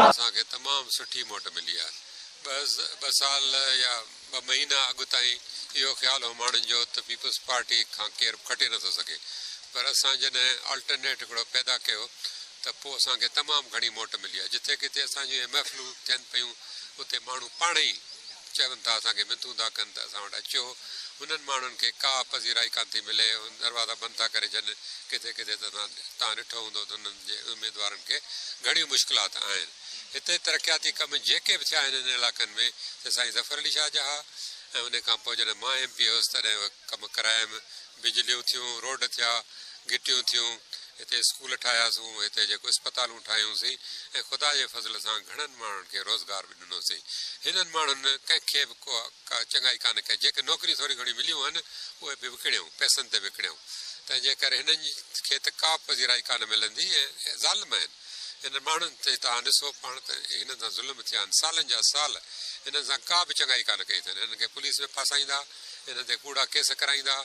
اسان کي تمام سٺي موٽ ملي آهي. ٻه سال يا ٻه مهينا اڳ تائين اهو خيال هو ماڻهن جو ته پيپلز پارٽي کان ڪير به کٽي نٿو سگهي پر اسان جڏهن آلٽرنيٽ هڪڙو پيدا ڪيو ته پوء اسان کي تمام گهڻي موٽ ملي آهي. جتي ڪٿي اسان جون اهي محفلون ٿين پيون اتي ماڻهو پاڻهي ئي چون ٿا اسان کي منٿون ٿا ڪن ته اسان وٽ اچو. انهن ماڻهن کي ڪا پذيرائي ڪانه ٿي ملي. هن دروازا بند ٿا ڪري ڇڏن. ڪٿي ڪٿي ته توهان ڏٺو هوندو ته انهن جي اميدوارن کي گهڻيون مشڪلات آهن. هتي ترقياتي ڪم جيڪي به ٿيا آهن انهن علائقن ۾، سي سائين ظفر علي شاهه جا ها ۽ انهي کان پوء جڏهن مان ايم پي هيس تڏهن اهي ڪم ڪرايم. بجليون ٿيون، روڊ ٿيا، گهٽيون ٿيون، هتي اسڪول ٺاهياسون، هتي جيڪو اسپتالون ٺاهيون سين ۽ خدا جي فضل سان گهڻن ماڻهن کي روزگار مليو. وٽ ڏنوسين. هنن ماڻهن ڪنهن کي به ڪا چڱائي ڪانه ڪئي. جيڪي نوڪريون ٿوريون گهڻيون مليون هن، اهي به وڪڻيائون، پئسن تي وڪڻيائون. تنهن جي ڪري هنن کي ته ڪابه پذيرائي ڪانه ملندي ۽ ظالم آهن. هنن ماڻهن تي توهان ڏسو پاڻ ته هنن سان ظلم ٿيا آهن. سالن جا سال هنن سان ڪا به چڱائي ڪانه ڪئي اٿن. هنن کي پوليس ۾ ڦاسائيندا، هنن تي ڪوڙا ڪيس ڪرائيندا،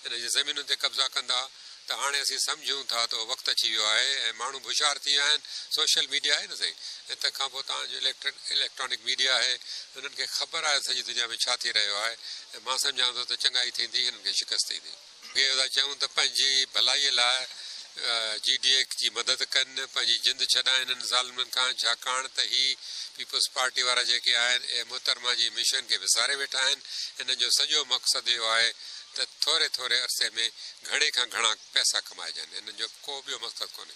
هنن جي زمينن تي قبضا ڪندا، ته هاڻي اسين سمجهون ٿا ته اهو وقت اچي ويو آهي ۽ ماڻهو به هوشيار ٿي ويا آهن، سوشل ميڊيا آهي نه سائين ۽ تنهن کان پوء توهان جو اليڪٽرانڪ ميڊيا آهي، هنن کي خبر آهي ته سڄي دنيا ۾ ڇا ٿي رهيو آهي ۽ مان سمجهان ٿو ته چڱائي ٿيندي هنن کي شڪست ايندي. اهو ٿا چون ته پنهنجي ڀلائي لاء جي ڊي اي جي مدد ڪن، پنهنجي جند ڇڏائين هنن ظالمن کان، ڇاڪاڻ ته هي پيپلز پارٽي وارا جيڪي آهن اهي محترمه جي مشن کي وساري ويٺا آهن، هنن جو سڄو مقصد اهو آهي. ته ٿوري ٿوري عرصي ۾ گهڻي کان گهڻا پئسا ڪمائجن، انهن جو ڪو ٻيو مقصد ڪونهي.